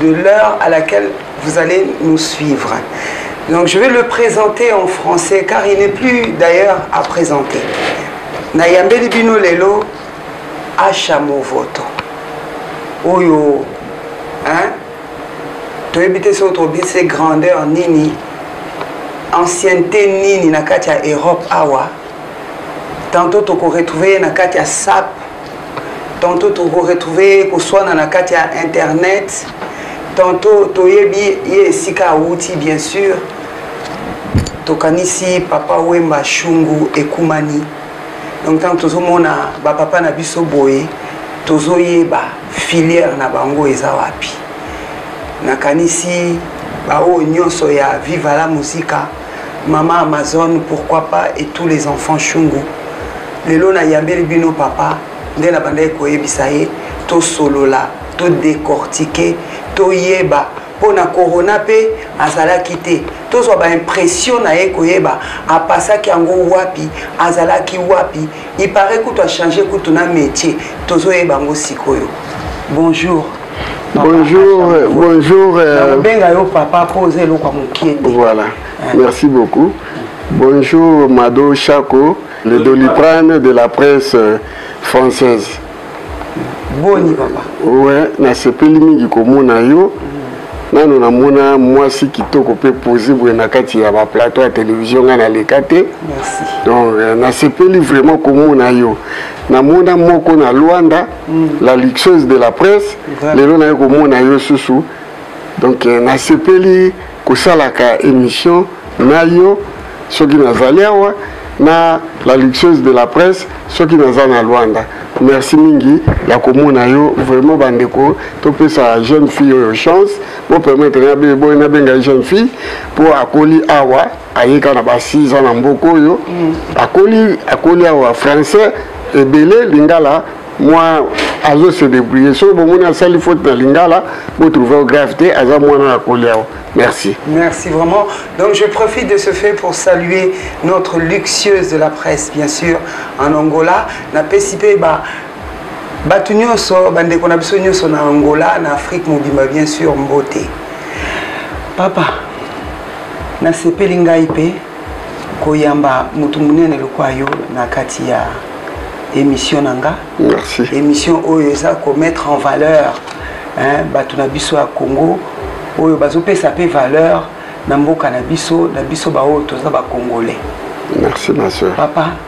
de l'heure à laquelle vous allez nous suivre. Donc je vais le présenter en français car il n'est plus d'ailleurs à présenter. Nayambeli bino lelo Asha Movoto. Oyo hein to éviter son trop bien ses grandeurs nini ancienneté nini na katia Europe awa. Tantôt toko retrouver na katia SAP tantôt tokoretrouve koswana na kati ya internet tantôt toyebi ye esika awuti bien sûr tokanisi papa wemba shungu ekumani donc ntango tozomona bapapa na biso boye tozoyeba filière na bango eza wapi nakanisi baoyo nyonso ya viva la musica Maman Amazon pourquoi pas et tous les enfants Shungu. Lelo na yambeli bino papa nde na bandaki koyebisa ye to solola to décortiquer to yeba mpo na corona mpe azalaki te tozwa baimpression na ye koyeba apasaki yango wapi azalaki wapi il paraît kutu a changer kutu na métier tozoyeba yango sikoyo bonjour bonjour euh, bonjour euh, nakobenga yo papa mpo oza eloko ya mokie te voilà merci beaucoup bonjour mado chaco le doliprane de la presse euh, française boni papa owe nasepeli mingi komona yo nano namona mwasi kitoko mpe pose boye na kati ya baplateau ya televizio ngai naleka te donc euh, nasepeli vraiment komona yo namona moko na lwanda mm. la luxeuse de la presse lelo naye komona yo susu donc euh, nasepeli kosalaka emission na yo soki nazali awa na la luxueuse de la presse soki naza na Luanda merci mingi ya komona yo vraiment bandeko topesa jeune fille oyo chance bo permettre na boye nabenga jeune fille mpo akoli awa aye kaka na ba 6 ans na mboka oyo mm. akoli akoli awa français ebele lingala mwa azo se débrouiller soki bomoni asali faute na lingala botrouve grave te aza mwana na koli awa Merci. Merci vraiment. Donc je profite de ce fait pour saluer notre luxueuse de la presse, bien sûr, en Angola. Na PCP, bah, bato nyonso bandeko na biso nyonso na angola na afrique mobimba bien sûr mbote papa Nasepeli ngai mpe koyamba moto monene lokola yo na kati ya émission na nga. Merci. Émission oyo eza ko mettre en valeur hein bato na biso ya Congo oyo bazopesa mpe valeur na mboka na biso na biso baoyo toza ba Congolais. Merci ma soeur. Papa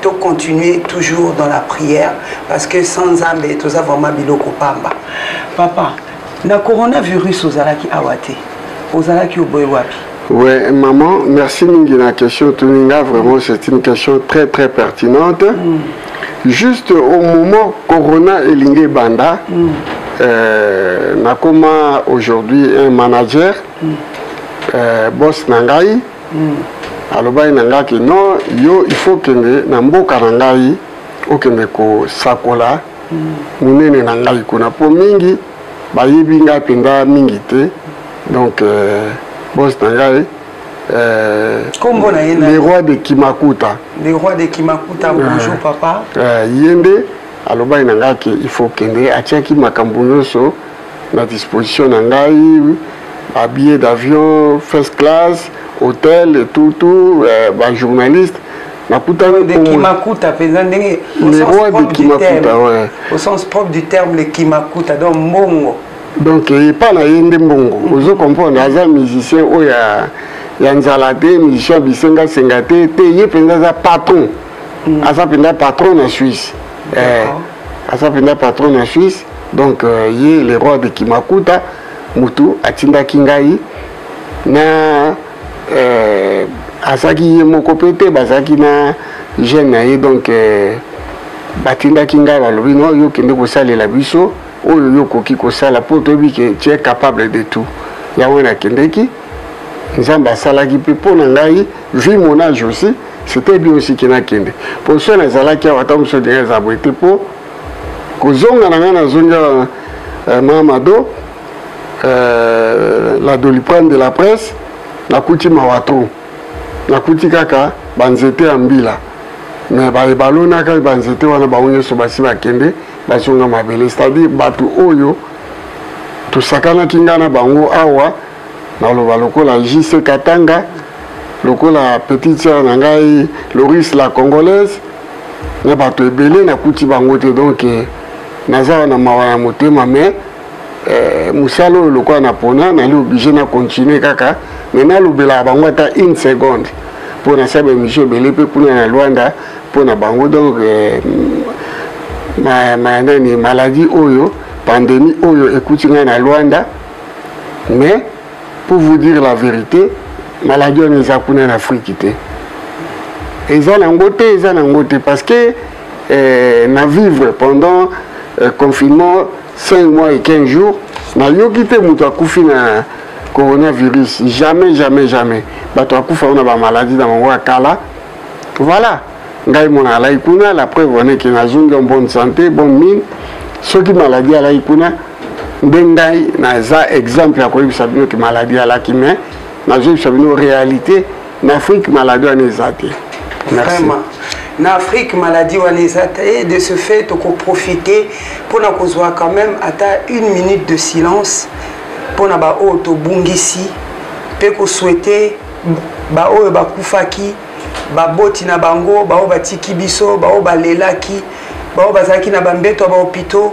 to continuer toujours dans la prière parce que sans nzambe toza vraiment biloko pamba papa na coronavirus ozalaki awa te ozalaki oboye wapi Ouais, maman, merci mingi na question Tuninga. Vraiment, c'est une question très très pertinente. Mm. Juste au moment Corona et Lingé Banda, mm. euh, nakoma aujourd'hui un manager, mm. euh, boss Nangai. alobaki na ngai ke non yo il faut okende na mboka na ngai okende kosakola monene na ngai kuna mpo mingi bayebi ngai mpenza mingi te donc euh, bos na ngai euh, kombo na ye le roi de kimakuta le roi de kimakuta euh, bonjour papa euh, ye nde alobaki na ngai ke il faut okende atiaki makambo nyonso na disposition na ngai ba billet d'avion first class hôtel et tout tout euh, ba journaliste nakutani de kimakuta mpenza ndenge le roi de kimakuta ouais. au sens propre du terme le kimakuta donc mbongo donc epa na ye nde mbongo ozo comprendre aza musicien oyo oh, ya, ya nzala te musicien bisengasenga te te ye mpenza aza patron mm. aza mpenza patron na suisse eh, aza mpenza patron na suisse donc euh, ye le roi de kimakuta motu atindaki ngai na euh, azalaki ye moko mpe te bazalaki na jeune na ye donc euh, batindaki ngai balobi no yo kende kosalela biso oyo yo okoki kosala mpo toyebi ke tu es capable de tout yango nakendeki nzambe asalaki mpe mpo na ngai vu mon age aussi c'était bien aussi ke nakende mpo so nazalaki awa ata mosusu odinga eza boye te mpo kozonga na ngai nazongi awa eh, mamado eh, la doliprane de la presse nakuti mawa trop nakuti kaka banzete ya mbila me baye balonaka banzete wana bango nyonso basi bakende bazonga mabele c'est-à-dire bato oyo tosakanaki ngai na bango awa naloba lokola JC Katanga lokola petite sœur na ngai Loris la congolaise na bato ebele nakuti bango te donc eh, naza na mawa ya motema mais eh, mosala oyo lokola napona nali oblige na continue kaka me nalobelaka bango ata une seconde mpo nasala baémission ebele mpe kuna na lwanda mpo na bango donc eh, ma, ma, nani maladie oyo pandémie oyo ekuti ngai na lwanda mais pour vous dire la vérité maladie wana eza kuna na afriki te eza nango te eza nango te parce que eh, na vivre pendant eh, confinement 5 mois et 15 jours nayoki te moto akufi na coronavirus jamais jamais jamais bato akufa wana bamaladi na bango ya kala voilà ngai mona alai kuna la preuve wana eke nazongi en bonne santé bonne mine soki maladi alai kuna nde ngai naza exemple ya koyebisa bino ke maladi alaki mais nazoyebisa bino réalité na afrique maladi wana eza te merci na afrique maladie wana eza te et de ce fait tokoprofite mpona kozwa quand même ata une minute de silence mpona baoyo tobungisi mpe koswete baoyo bakufaki baboti na bango baoyo batiki biso baoyo balelaki baoyo bazalaki na bambeto ya bahopitaux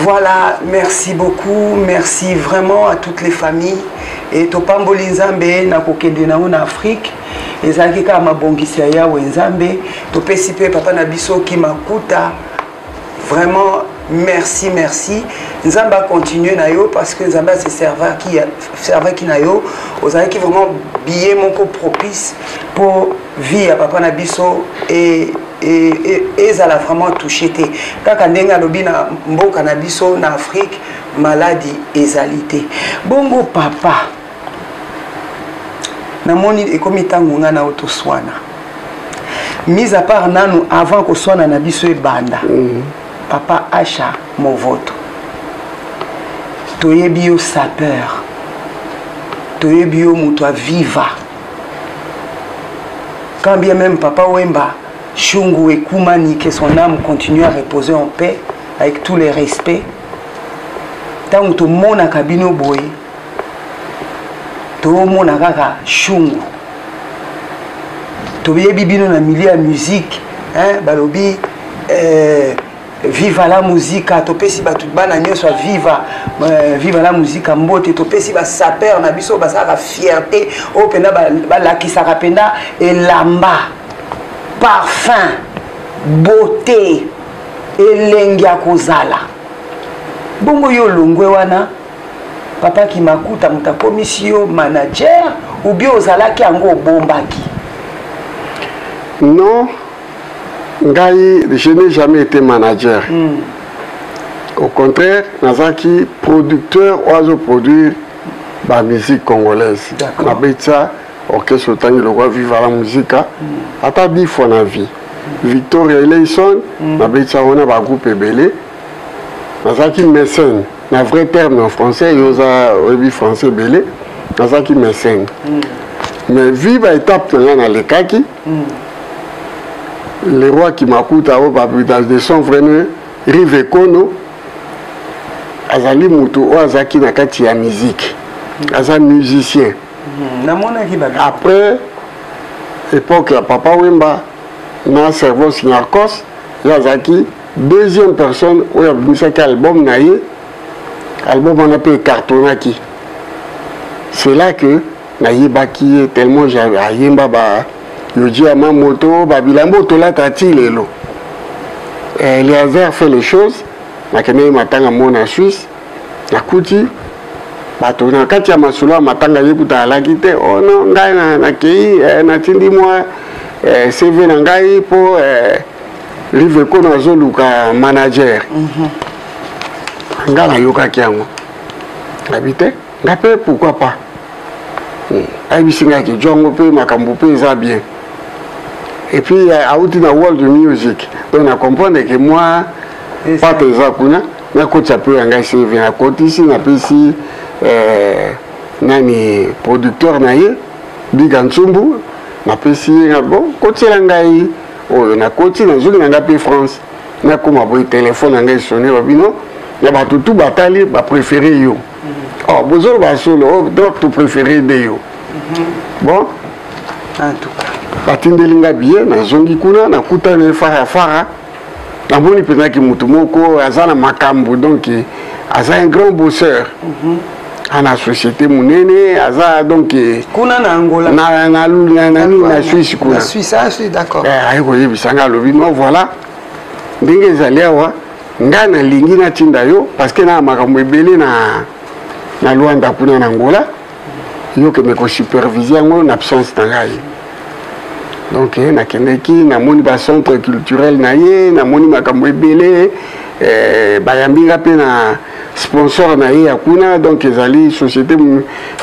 Voilà, merci beaucoup, merci vraiment à toutes les familles. Et topamboli nzambe na kokende na na Afrique. ezalaki kaka mabongisi ya yawe nzambe topesi mpe papa na biso kimakuta Vraiment, merci, merci. Nzambe a continué na yo parce que Nzambe a se servir qui servir qui na yo. Ozali qui vraiment billet mon co propice pour vie à papa na biso et et et ezala vraiment touché te. Kaka ndenge alobi na mboka na biso na Afrique maladie ezali te. Bongo papa namoni ekomi ntango ngai na yo toswana mise à part nanu avant koswana na biso ebanda mm. papa asha movoto toyebi yo sapeur toyebi yo moto aviva quand bien même papa wemba shungu ekumani que son âme continue à reposer en paix avec tous les respects ntango tomonaka bino boye tomona kaka shungu toyebi bino na milieu ya musique hein, balobi eh, viva la musica topesi bato bana nyonso ya viva euh, viva la musica mbote topesi basaper na biso basalaka fierté oyo mpenza balakisaka mpenza elamba parfum beauté elengi ya kozala bongo yo olongwe wana papa kimakuta moto akomisi yo manager ubie ozalaki yango obombaki non ngai je n'ai jamais été manager mm. au contraire nazalaki producteur oyo azoproduire bamusique congolaise nabetisa orchestre otangi lokwa viva la musica mm. ata dix fois na vie victoria eleison mm. nabetisa wana bagroupe ebele nazalaki mécène na vrai terme en français yo oza oyebi français ebele nazalaki mécène mm. mais vu baétape na ngai nalekaki mm. le roi kimakuta oyo babutage de son vrai ne rive ekono azali motu oyo azalaki na kati ya miziki mm. aza musicien mm-hmm. après époque ya papa wemba na cerveau sinarcos ye azalaki deuxième personne oyo abimisaki album na ye album wana mpe ecartonaki c'est là que nayebaki ye tellement ayemba ba yoji ya mamoto babilambo tolata ti lelo eh, eliazer fait les choses nakendaki matanga mo na suisse nakuti bato na kati ya masolo ya matanga ye kuta alaki te o oh no ngai nakei eh, natindi mwa eh, cv na ngai mpo live ko nazoluka manager mhm. nga nayokaki yango nayebi te nga mpe pourkui pas hmm. ayebisi nga ke jongo mpe makambo mpe eza bien epuis euh, awuti na world music donc na comprendre ke mwa pate eza kuna nakotisa mpe ya ngai seve nakotisi napesi euh, nani producteur na ye biga nsumbu napesi ye na bo kotiela ngai oyo nakoti nazongi na ngai mpe france nakoma boye telefone na ngai esone ba bino na bato tu batali bapréféré yo mhm. oh, bozoloba solo oh, donc to préféré nde yo mhm. bon batindeli ngai biye nazongi kuna nakutani fara fara namoni mpenzaki motu moko aza na makambo donc aza un grand bosseur mm -hmm. ana société munene aza donc eh, kuna na angola na, na, na, na, nini na suisse kuna ah, eh, aye koyebisa nga alobi no voilà ndenge ezali awa ngai nalingi natinda yo parce que na makambo ebele na, na luanda kuna na angola yo okende kosupervise yango na absence na ngai donc eh, nakendeki namoni bacentre culturel na ye namoni makambo ebele eh, bayambi nga mpe na sponsor na ye ya kuna donc ezali société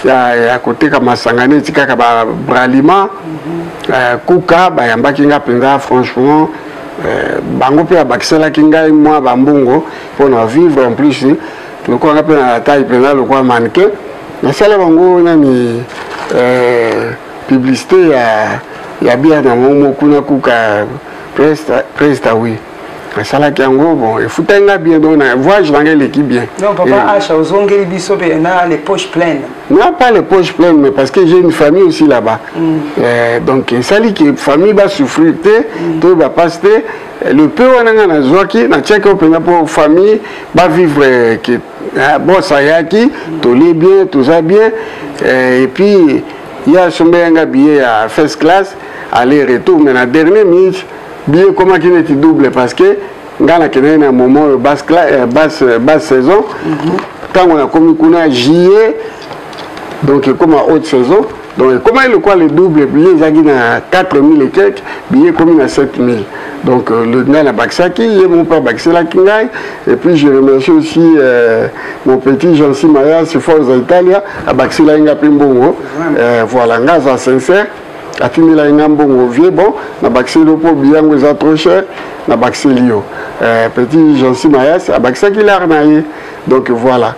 ya, ya koteka masanga neti kaka ba bralima mm -hmm. euh, kuka bayambaki nga mpenza franchement euh, bango mpe abakiselaki ngai mwa bambongo mpo na vivre en plus lokola nga mpe na taille mpenza lokola mannequin nasala bango nani euh, publicité ya, ya biana momo kuna kuka presta, presta oui asalaki yango bon efutaki nga bien donc na voyage na nga eleki bien donc papa eh. asha ozongeli biso mpe na les poches pleines na pas les poches pleines mais parce que j'ai une famille aussi là-bas mm. euh, donc esali ke famille basouffrir te mm. to bapasi te le peu wana nga nazwaki natiaki oyo mpenza mpo famille bavivre euh, ke euh, bos ayaki mm. tolie bien toza bien euh, et puis ye asombeli nga billet ya first class aller retour mais na dernier minute bi ekomaki neti double parce que ngai nakendaki na moment oyo basse euh, euh, saison ntango mhm. nakomi kuna juillet donc ekoma haute saison donc ekomaki lokola le double billet ezalaki na 4000 et quelque billet ekomi na 7000 donc euh, le ngai nabakisaki ye mo mpe abakiselaki ngai et puis je remercie aussi euh, mon petit jean simaya siforza italia abakiselaki ngai mpe mbongo euh, voilà ngai aza sincère atindela ye nga mbongo vie bon na bakiseli yo mpo biyango eza trop cher na bakiseli yo euh, petit jansi mayas abakisaki lare na ye donc voilà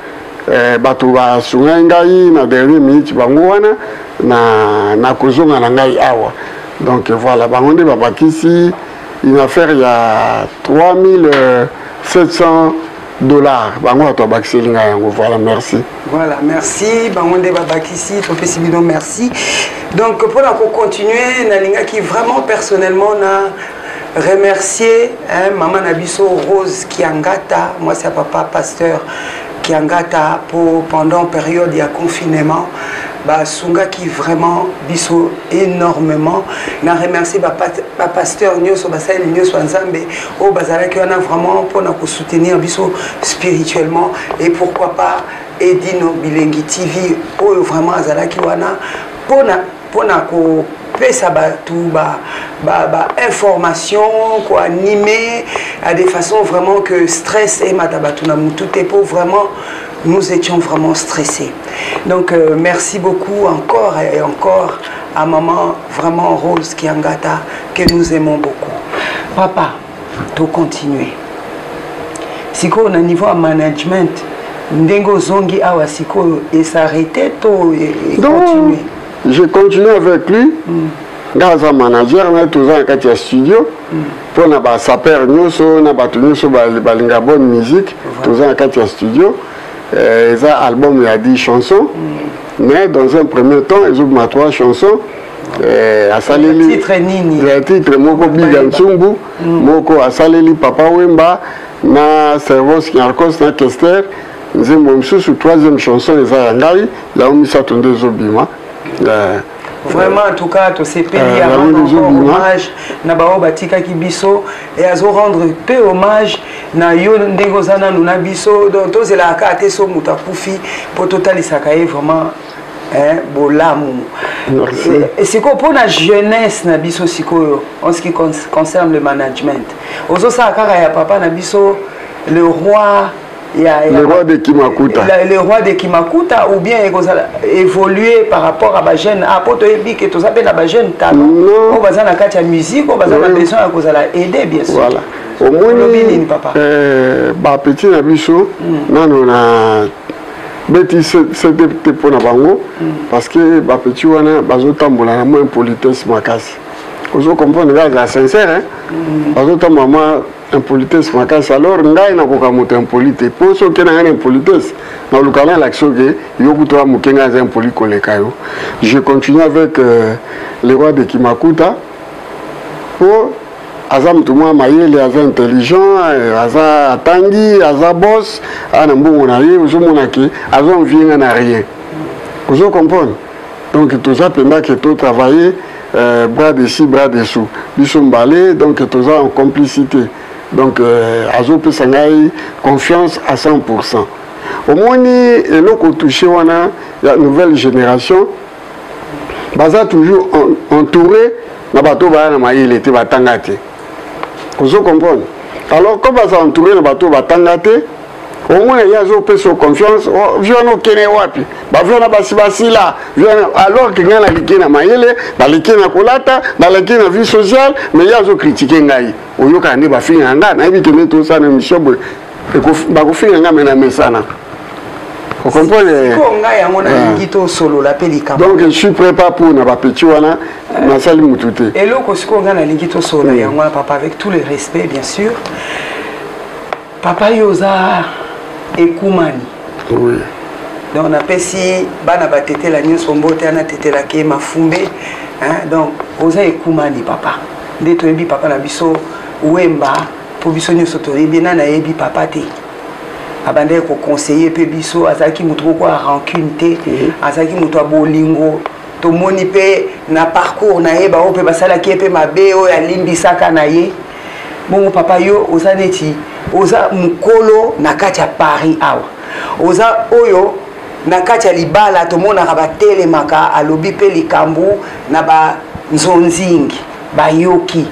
euh, bato basungaki ngai na dernier minute bango wana na, na kozonga na ngai awa donc voilà bango nde babakisi une affaire ya 3700 dollar bango bato babakiseli ngai yango voilà merci voilà merci bango nde babakisi topesi bino merci donc mpona kocontinue nalingaki vraiment personnellement na remercier hein, mama na biso rose kiangata mwasi ya papa pasteur kiangata mpo pendant période ya confinement basungaki vraiment biso énormément na remercier bapasteur nyonso basaleli nyonso ya nzambe oyo bazalaki wana vraiment mpo na kosoutenir biso spirituellement et pourquoi pas edino bilengi tv oyo vraiment azalaki wana mpona mpona kopesa bato bainformation ba, ba koanime à des façons vraiment que stress emata bato na motu te mpo vraiment nous étions vraiment stressés donc euh, merci beaucoup encore et encore à maman Vraiment Rose Kiangata que nous aimons beaucoup. Papa, to continuer. Sikoyo na niveau ya management ndenge ozongi awa sikoyo esarrete to e, e continue je continue avec lui mm. nga aza manager na ye toza na kati ya studio mpo mm. na basaper nyonso na bato nyonso balinga bonne musique toza na kati ya studio eh, eza album ya 10 chanson mm. mais dans un premier temps ezobima trois chansons eh, asaleli titre nini ya titre moko biga nsumbu mm. moko asaleli papa wemba na servos nyarcos na kester nzembo mosusu troisième chanson eza ya ngai yango misato nde ezobima eh. vraiment en tout cas tosepeli eh, yango hommage na baoyo batikaki biso et azo rendre peu hommage na yo ndenge oza nanu na biso donc tozelaka kaka te so moto akufi mpo totalisaka ye vraiment bolamu sikoyo mpo na jeunesse na biso sikoyo en ce qui concerne le management ozosala kaka ya papa na biso le roi ya, ya, le roi de kimakuta la, le roi de kimakuta ou bien ekozala évoluer par rapport à bajeune a ah, mpo toyebi ke toza mpe na bajeune talent oyo baza na kati ya musique oyo baza na besoin ya kozala aide bien sûr voilà. omoni euh, bapeti na biso mm. nano na beti sete te mpo na bango mm. parce que bapeti wana bazotambola na mwa impolitesse makasi ozo comprendre kaka sincère mm. bazotambola mwa impolitesse makasi alors ngai nakoka moto impoli te mpo soki oke na ngai na impolitesse naluka na elakisi oke yo kutu ya moke ngai aza impoli koleka yo je continue avec euh, le roi de kimakuta mpo aza moto mwa mayele aza intelligent euh, aza atangi aza bos ana mbongo na ye ozomona ke azo envie ngai na rien ozo comprendre donc toza mpenza ke to travailler euh, bras dessus bras dessous biso mbale donc toza en complicité donc euh, azopesa ngai confiance à 100 pourcent omoni eloko touche wana ya nouvelle génération baza toujours entouré na bato oyo baya na mayele te batanga te ozo comprendre alors comme baza entouré na bato oyo batanga te omona ye azopesa yo confiance oh, vi wana okene wapi bavi wana basi basila vi wana alors ke ngai naleki na mayele naleki na kolata naleki na vie sociale mais ye azokritike ngai oyokaka nde bafinga ngai nayebi ke nde tosana émission boye bakofinga ngai me na mesana donc je suis prêt pas pour na bapeti wana nasali motu te eloko sikoyo ngai nalingi tosolola yango wana papa avec tout le respect bien sûr papa yo oza ekumani oui. donc napesi bana batetela nyonso mbote ana tetelaki ye mafumbe hein? donc oza ekumani papa nde toyebi papa na biso wemba mpo biso nyonso toyebi nani ayebi papa te abandaki koconseille mpe biso azalaki moto moko ya rancune te mhm. azalaki moto ya bolingo tomoni mpe na parcours na ye baoyo mpe basalaki ye mpe mabe oyo alimbisaka na ye bongo papa yo oza neti oza mokolo na kati ya paris awa oza oyo na kati ya libala tomonaka batelemaka alobi mpe likambo na banzonzingi bayoki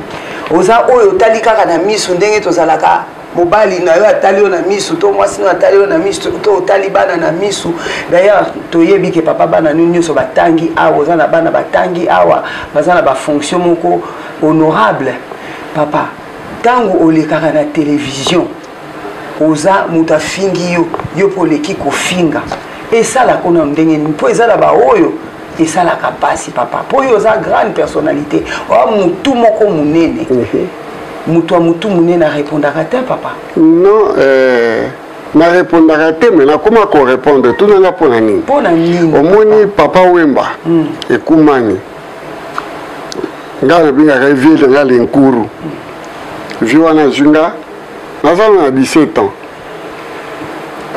oza oyo otali kaka na miso ndenge tozalaka mobali na yo atali yo na miso to mwasi na atali yo na miso to otali bana na miso d'ailleurs toyebi ke papa bana nio nyonso batangi awa oza na bana batangi awa baza na bafonction moko honorable papa ntango olekaka na televizio oza moto afingi yo yo mpo oleki kofinga esalaka na ndenge nini mpo eza na baoyo esalaka mpasi papa mpo yo oza grande personnalité oa motu moko monene mhm. moto ya motu monene arepondaka te papa non euh... narepondaka te me nakoma korepondre tunanga mpo na nini omoni papa wemba mm. ekumani nga nabengaka ye vie na nga lenkuru vie wana azwi nga nazala na 17 ans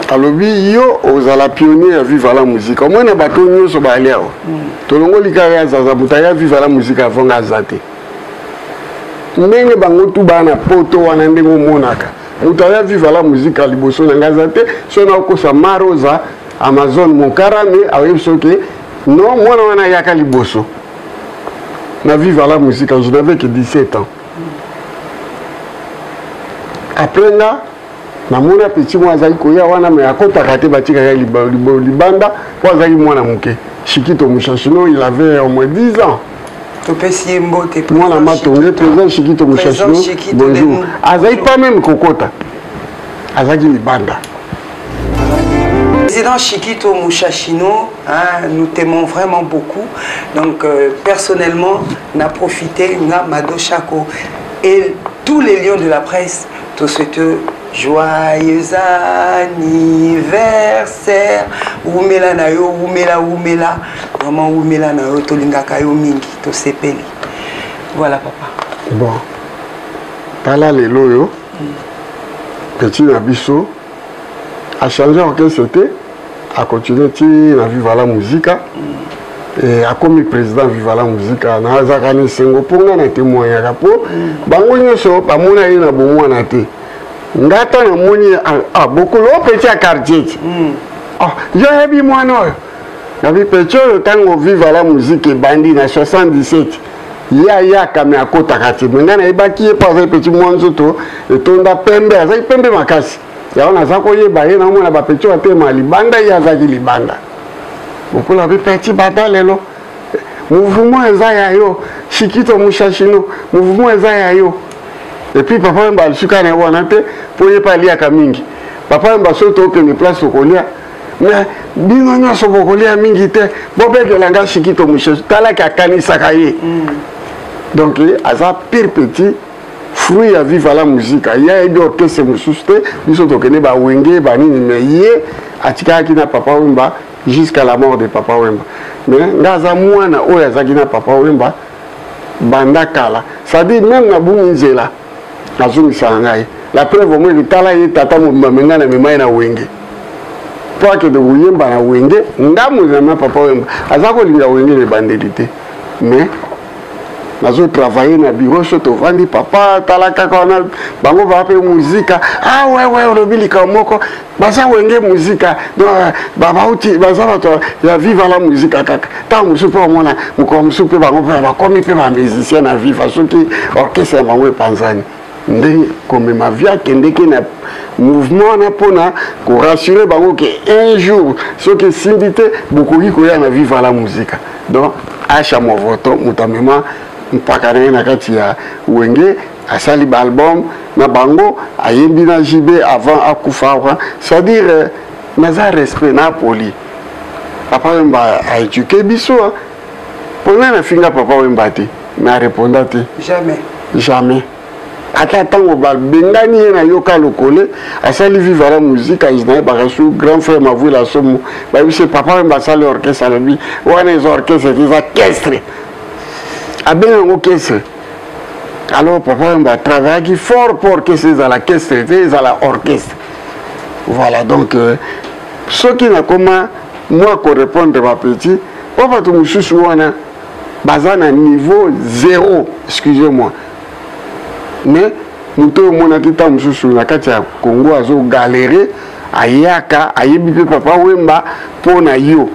alobi yo ozala pionnier ya viva la musique omoi na bato nyonso baali awa tolongoli kaka ya zaza moto aya viva la musique avant nga aza te ndenge bango tu baa na poto wana ndenge omonaka moto aya viva la musique liboso na nga aza te so nakokosa maroza amazone mokarame aoyebi soki non mwana wana ayaka liboso na vive à la musique je n'avais que 17 ans après nga namona petit mwana azali koya wana me akotaka te batikaka libanda mpo azalaki mwana moke shikito mushashino il avait au moins 10 ans topesi ye mbote mwana matonge président shikito mushashino bonjour azali pas meme kokota azalaki libanda Président Chikito Mouchachino, hein, nous t'aimons vraiment beaucoup. Donc, euh, personnellement, n'a profité, n'a Mado Chaco et tous les lions de la presse, tout ce que joyeux anniversaire wumela na yo wumela wumela vraiment wumela na yo tolingaka yo mingi tosepeli voilà papa bon tala lelo oyo mm. petit na biso a change orchestre te a continue ti na viva la musica e akomi président viva la musica nazalaka na esengo mpo ngai na témoignaka mpo bango nyonso bamona ye na bomwana te ngai ata namoni ah, ah, bokolo petit ya quartier ti hmm. ah, yo oyebi mwana oyo na bipecho oyo ntango viva la musique ebandi na 77 ye ayaka me akotaka te me ngai nayebaki ye mpo azali peti mwa nzoto etonda pembe azalaki pembe makasi yango naza koyeba ye naomona bapecho batema libanda ye azalaki libanda bokola bipeti bata lelo mouvement eza ya yo shikito mushashino mouvement eza ya yo epuis papa wemba alisuka na ye wana te mpo ye mpe aliaka mingi papa wemba soki tokende place okolia mais bino nyonso bokolia mingi te bobetela nga sikito mosusu talaki akanisaka ye mm. donc aza pire petit fruit ya viva la musica ye ayebi orkestre mosusu te biso tokende bawenge banini me ye atikaki na papa wemba jusqu'à la mort de papa wemba me nga aza mwana oyo azalaki na papa wemba banda kala c'est-à-dire meme na bungi nzela azongisaka ngai la preuve omoni tala ye tata mobimba me ngai namema ye na wenge mpo akende koyemba na wenge nga mozama papa oyemba aza kolinga wenge na ebandeli te mais nazo travaille na biro so tovandi papa tala kaka wana bango baa mpe muzika ah wewe olobi likambo moko baza wenge muzika babauti baza bato ya viva la muzika kaka ntango mosusu mpe omona mokolo mosusu mpe bango mpe bakomi mpe bamusicien na viva soki orchestre ya bango epanzani nde komema vie akendeki na mouvement wana mpona korassure bango ke un jour soki esimbi te bokoki koya na viva la muzika donc asha movoto moto amema mpaka na ye na kati ya wenge asali ba album na bango ayembi na JB avant akufa awa c'est-à-dire euh, naza respect na poli papa wemba a éduquer biso pona na finga papa wemba te na reponda te jamais jamais ata ntango babengani ye na yoka lokole asali viva la musique ayina ye bakasu grand frère mavuila somo bayebisi papa wemba asali orchestre alobi wana eza orchestre eza kestre abenga yango kestre alors papa yamba travaillaki fort mpo orchestre ezala kestre te ezala orchestre voilà donc euh, soki nakoma mwa korépondre bapetit mpo bato mosusu wana baza na niveau zéro excusez moi mais moto oyo omonaki ntango mosusu na kati ya congo azogalere ayaka ayebi mpe papa wemba mpo na yo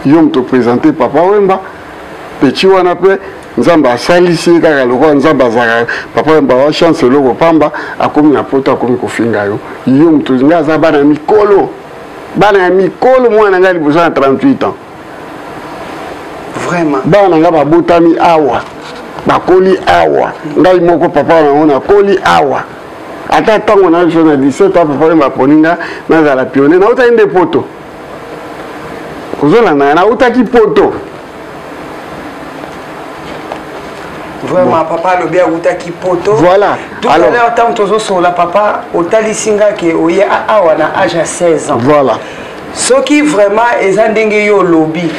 yo moto présente papa wemba peti wana mpe nzambe asalisi ye kaka lokola nzambe azalaka papa ya bawa chance eloko pamba akomi na poto akomi kofinga yo yo moto ngai aza bana ya mikolo bana ya mikolo mwana na ngai liboso na 38 ans vraiment bana na ngai babotami awa bakoli awa ngai moko papa nango nakoli awa ata ntango na biso na 17 ans papa ye baponi nga nazala pionnier nautaki nde poto ozolanda nga nautaki poto vraiment papa alobi awutaki poto voilà tout à l'heure ntango tozosolola papa otalisi nga ke oye awa na age ya 16 ans voilà soki vraiment eza ndenge yo olobi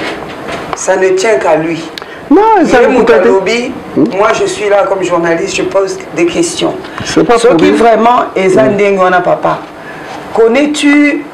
ça ne tient qu'à lui Non, ça ne coûte lobby, hmm? moi je suis là comme journaliste, je pose des questions. C'est pas Ce qui vraiment est un hmm. papa. Connais-tu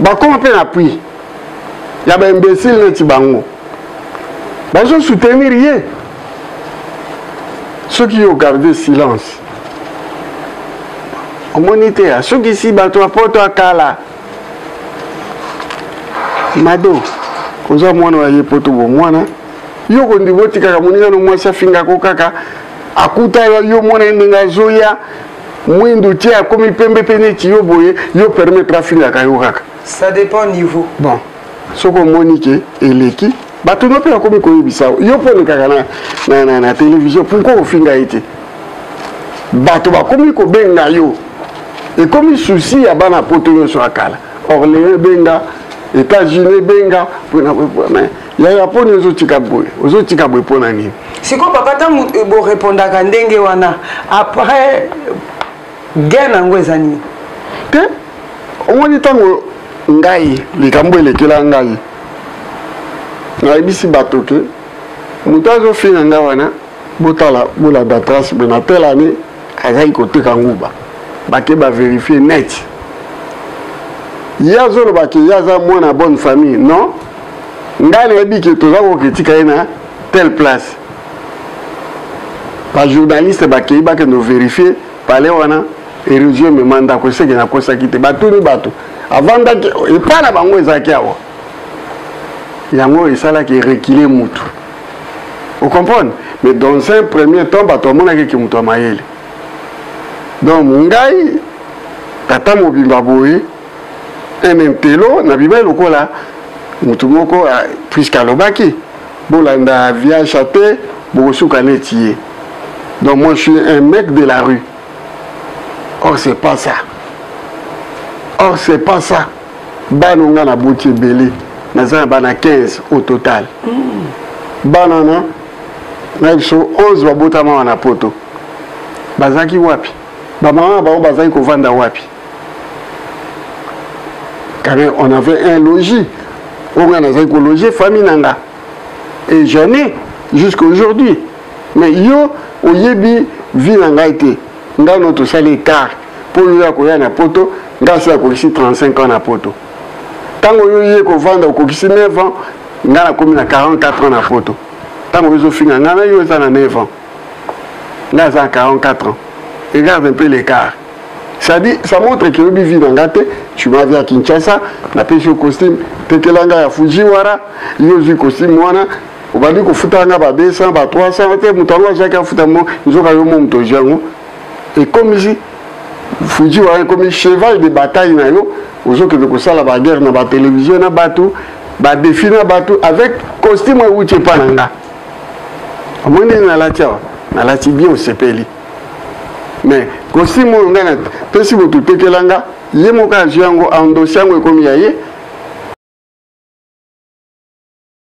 bakoma mpe na appui ya ba imbécile neti bango bazo soutenir ye soki yo garde silence omoni te asukisi bato ya poto ya kala mado oza mwana ya ye poto bomwana yo kondima otikaka moningano mwasi afingako kaka akuta yo mwana ye ndenge azoya mwindu tie akomi pembe mpe neti yo boye yo permettre afingaka yo kaka ça dépend niveau bon soki omoni ke eleki bato no mpe bakomi koyebisa yo mpo olekaka na, na, na, na televizio pourkoi ofinga ye te bato bakomi kobenga yo ekomi susi ya bana poto nyonso ya kala orléans ebenga états-unis ebenga mpona yaya poni ozotika boye ozotika boye mpo na nini sikoyo papa ntango eh, borepondaka ndenge wana après gain yango eza nini te omoni ntango ngai likambo elekela ngai nayebisi bato ke moto azofina ngai wana botala bolanda trace me na tele année azali koteka nguba bake baverifie net ye azoloba ke ye aza mwana ya bonne famille non ngai nayebi ke toza koketika ye na telle place bajournaliste bakei bakende overifie pale wana erosion emema ndako eseke nakosaki te batuni bato avandaki epai na bango ezalaki awa yango esalaki rekile mutu ocomprendre mais dans un premier temps bato amonaki eke moto ya mayele donc ngai tata mobimba boye un intelo na bimai lokola motu moko ah, puiske alobaki bolanda viacha te bokosuka neti ye donc moi je suis un mec de la rue or c'est pas ça or c'est pas ça bana oyo ngai naboti ebele naza na bana 15 au total mm. bana wana na biso 11 babotama awa na poto bazalaki wapi bamama na bango bazalaki kovanda wapi quand même on avait un logis oyo ngai nazalaki kologer famille na nga et j'en ai jusqu'aujourd'hui mais yo oyebi vie na ngai te nga no tosali ecart mpo yo ya koya na poto nga se akokisi 35 ans na poto ntango yo ye kovanda okokisi 9 ans nga nakomi na 44 ans na poto ntango ezofinga nga na yo eza na 9 ans nga aza na 44 ans regarde un peu l'écart ça dit ça montre que oyebi vie na nga te tu m'as vu à kinshasa napesi yo costume tekela nga ya fujiwara yo ozwi costume wana obandi kofuta nga ba 200 ba 300 te moto yango azwaki afuta mo nzoka yo mo moto ozwi yango ekomisi fuji wana ekomi cheval de bataille na yo ozokende kosala baguerre na batelevizio na bato badefi na bato avec costume euti epa na nga omoni ndenge nalati awa nalati bien osepeli mais costume oyo ngai napesi moto tekela nga ye moko azwi yango andosi yango ekomi ya ye